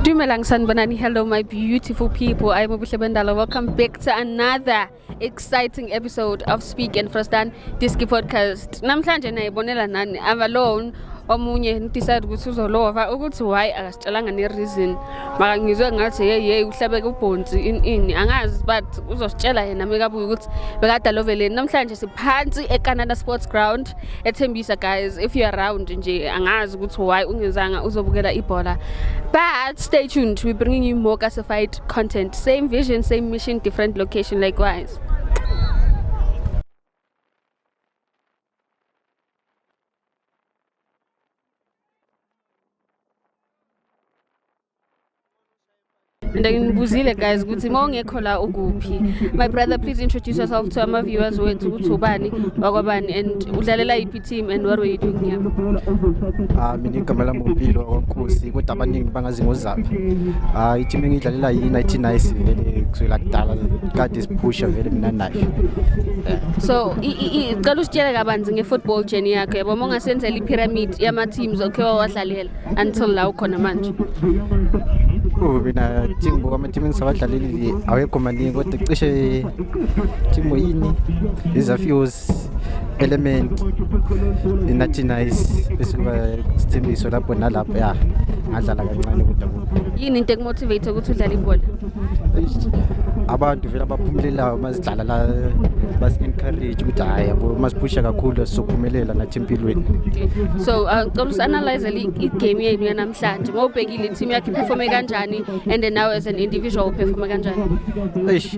Dumelang Sanbanani, hello my beautiful people. I am Obuhle Bendala. Welcome back to another exciting episode of Speak and Frostan Diski Podcast. Namhlanje nayibonela nani, I'm alone. Omunye decide ukuthi uzolova ukuthi why tshelanga ne-reason maka ngizwe ngathi yeyi yeyi uhlabeke ubhonsi ini ini angazi but uzositshela yena mekabuye ukuthi bekade aloveleni namhlanje siphansi ecanada sports ground ethembisa guys if you around nje angazi ukuthi why ungenzanga uzobukela ibhola but stay tuned we bringing you more classified content same vision same mission different location likewise and ngibuzile guys ukuthi uma ungekho la ukuphi my brother please introduce yourself to ama viewers wethu ukuthi ubani wakwabani and udlalela yiphi team and what were you doing here ah mina igama lami umpilo wakwankosi kodwa abaningi bangazi ngozaphi ah i-team engidlalela yi-19 nice vele kusukela kudala kade phusha vele mina nayo so cela usitshele kabanzi nge-football journey yakho yabo uma ungasenzela i-pyramid yama-teams okhe wawadlalela until la ukhona manje Oh, mina team bo ama team engisabadlaleli awekho maningi kodwa cishe team yini izafios element inathi nice bese kuba sithembiso lapho nalapho ya ngadlala kancane kodwa yini into ekumotivate ukuthi udlale ibhola abantu vele abaphumulelayo mazidlala la basi-encourage ukuthi hhayi yabo masiphusha kakhulu sizophumelela nathi empilweni so uh, cela usi-analyze igame yenu yanamhlanje uma ubhekile i-team yakho iphefome kanjani and then now as an individual uphefome kanjani eish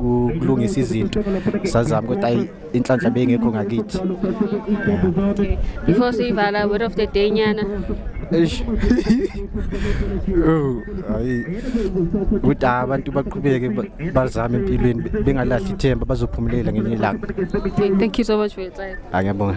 ukulungisa izinto sazama ukuthi ayi inhlanhla beyingekho ngakithi okay. before siyivala word of the day nyana eish oh hayi ukuthi abantu baqhubeke bazame empilweni bengalahli ithemba bazophumulela ngenye ilanga thank you so much for your time angiyabonga